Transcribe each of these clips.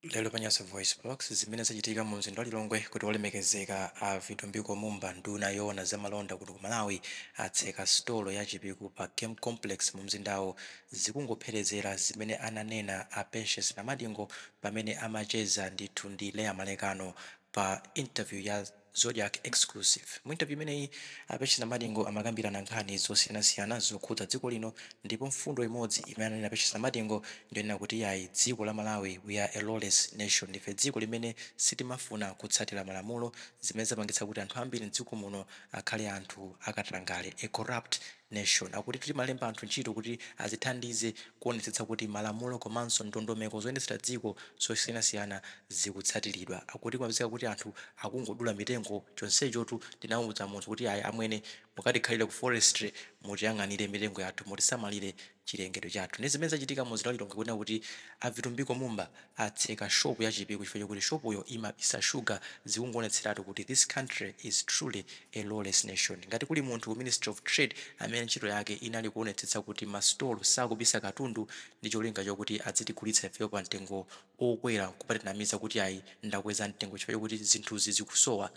Lero pa Nyasa VoiceBox, zimene zachitika mu mzinda wa Lilongwe kuti Wolemekezeka a Vitumbiko Mumba, nduna yoona za malonda kuno ku Malawi, atseka sitolo ya Chipiku pa Game Complex mu mzindawu, zikungopherezera zimene ananena a Patience Namadingo pamene amacheza ndithu ndi Leah Malekano pa interview ya. Zodiak Exclusive. Mu interview imeneyi, a Patience Namadingo amakambirana nkhani zosiyanasiyana zokhudza dziko lino ndipo mfundo imodzi imene ananena Patience Namadingo ndiyonena kuti iyayi dziko la Malawi we are a lawless nation ndife dziko limene sitimafuna kutsatira malamulo zimene zapangitsa kuti anthu ambiri mdziko muno akhale anthu akatangale a corrupt Nation akuti timalemba anthu ntchito kuti azithandize kuonetsetsa kuti malamulo komanso ndondomeko zoyendetsera dziko zosiyanasiyana zikutsatiridwa. Akuti kumapezeka kuti anthu akungodula mitengo chonsechotu tinamuuza munthu kuti ayi amwene mukatikhalire ku forestry mutiyang'anire mitengo yathu mutisamalire chilengedwe chathu ndi zimene zachitika mu mzinda wa Lilongwe kunena kuti a Vitumbiko Mumba atseka shop ya Chipiku chifukwa chokuti shop yo imabisa sugar zikungoonetseratu kuti this country is truly a lawless nation. Ngati kuli munthu ku Ministry of Trade amene ntchito yake inali kuonetsetsa kuti ma store sakubisa katundu ndi cholinga chokuti adzitigulitsa ifeyo pa mtengo okwera nkumatinamiza kuti ayi ndakweza mtengo chifukwa chokuti zinthuzi zikusowa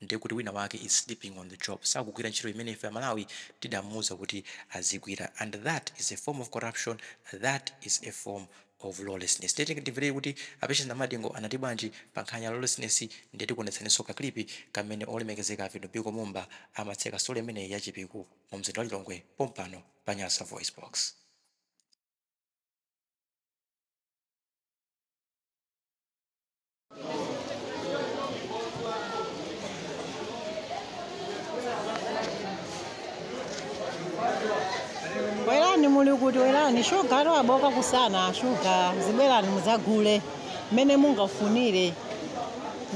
Ndiye kuti wina wake is sleeping on the job, sakugwira ntchito imene ife amalawi tidamuuza kuti azigwira and that is a form of corruption, that is a form of lawlessness. Ndiye tiyeni timverere kuti a Patience Namadingo anati bwanji pa nkhani ya lawlessness ndiye tikuonetsaninso ka clip kamene olemekezeka a Vitumbiko Mumba amatseka sitolo imeneyi ya Chipiku mu mzinda wa Lilongwe pompano pa Nyasa VoiceBox. bwerani muli kuti bwerani shuga ati yabooka kusana shuga zibwerani mudzagule mmene mungafunire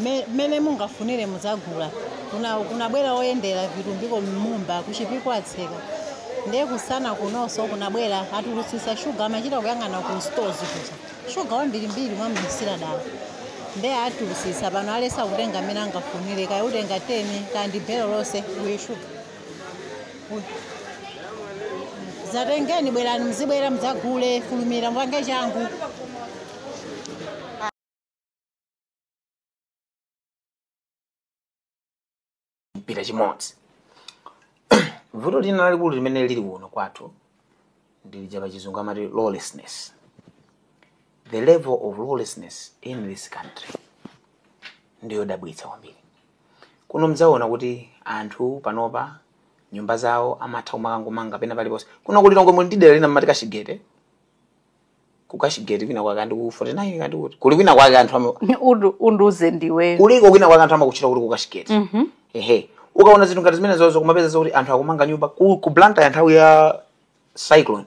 Me- mmene mungafunire mudzagula kuna kunabwera oyendera Vitumbiko Mumba ku Chipiku atseka ndiye kusana kunonso kunabwera atulutsitsa shuga amachita kuyang'ana ku stores kuja Shuga wambirimbiri amaubisira dala nde atulutsitsa pano alengeza kutenga mmene angafunire kaya utenga 10 kaya ndi belo lonse uyu shuga uyu dzatengeni bwerani mzibwera mdzagule fulumira mpange changu mpira chimodzi vuto lina lalikulu limene lili kuno kwathu ndilija pa chizungu amati lawlessness the level of lawlessness in this country ndiyodabwitsa kwambiri kuno mdzaona kuti anthu panopa nyumba zawo amatha kumakangomanga pena paliponse kuno ku Lilongwe muli ndi dera lina mmati kachigete ku kashigeti kwina kwake ndi ku 49 kandi kuti kuli kwina kwake anthu ama- Undu- unduze ndiwe kuliko kwina kwake anthu amakutchula kuti ku kashigeti Mhm. ehe ukaona zinthu ngati zimenezozo kumapeza zokuti anthu akumanga nyumba ku, ku blantyre nthawi ya cyclone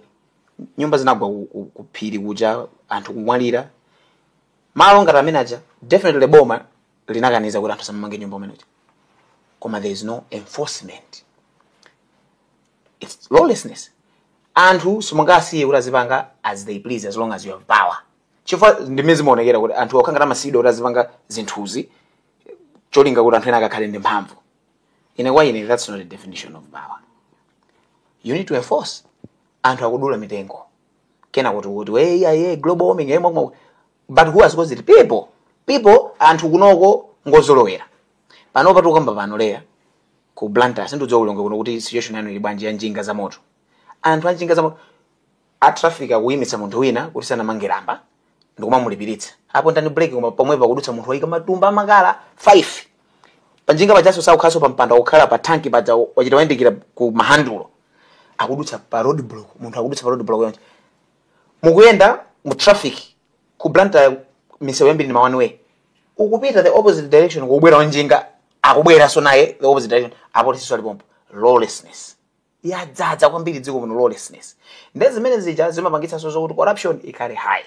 nyumba zinagwa ku- ku- ku phiri kuja anthu kumwalira malo ngati amene aja definitely boma linakaniza kuti anthu asamamange nyumba kumene kuja koma there is no enforcement it's lawlessness anthu simungawasiye kuti azipanga as they please as long as you have power chifukwa ndimene zimaonekera kuti anthu amakhala ngati amasiyidwa kuti azipanga zinthuzi cholinga kuti anthu ena akakhale ndi mphamvu ine kwa ine that's not a definition of power you need to enforce anthu akudula mitengo kenako tikuti yeah, yeah, global warming eh, mwakuma- but who has caused it people people anthu kunoko ngozolowera panopa tikukamba pano leya ku blantyre sindiudziwa ku lilongwe kuno kuti situation yanu ili bwanji ya njinga za moto anthu a njinga za moto a traffic akuimitsa munthu wina kuti sanamange lamba ndikumamulipiritsa apo ndani brake koma pomwepo akudutsa munthu waika matumba a makala 5 panjinga pajaso sakukhalanso pa mpando akukhala pa tanki paja wachita wayandikira ku mahandulo akudutsa pa road block munthu akudutsa pa road block yonse mukuyenda mu traffic ku blantyre misewu yambiri ndi ma one way ukupita the opposite direction kukubwera wanjinga akubweranso naye the opposite direction apolisinso ali pomwepo lawlessness yadzadza kwambiri dziko muno lawlessness nde zimene zija zimapangitsanso zokuti corruption ikhale high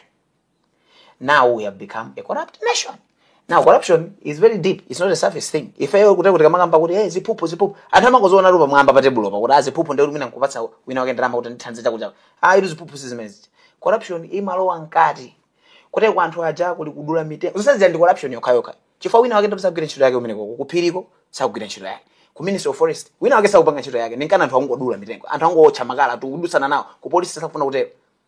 now we have become a corrupt nation now corruption is very deep it's not a surface thing ifeyo tikamakamba kuti hey ziphuphu ziphuphu anthu amangozionatu pamwamba pa tebulo apa kuti ah ziphuphu ndikuti mwina nkupatsa wina wake ndalama kuti undithandize chakuti ah ilu ziphuphu si zimene zija corruption imalowa mkati kuti kwa anthu aja kuli kudula mitengo zonse zija ndi corruption yokhayokha chifukwa wina wake ndi osagwira ntchito yake kumeneko kuphiriko sakugwira ntchito yake ku ministry of forest wina wake sakupanga ntchito yake ndi nchifukwa chake anthu angodula mitengo anthu angowotcha makala tikudutsana nawo ku polisi sakufuna kutero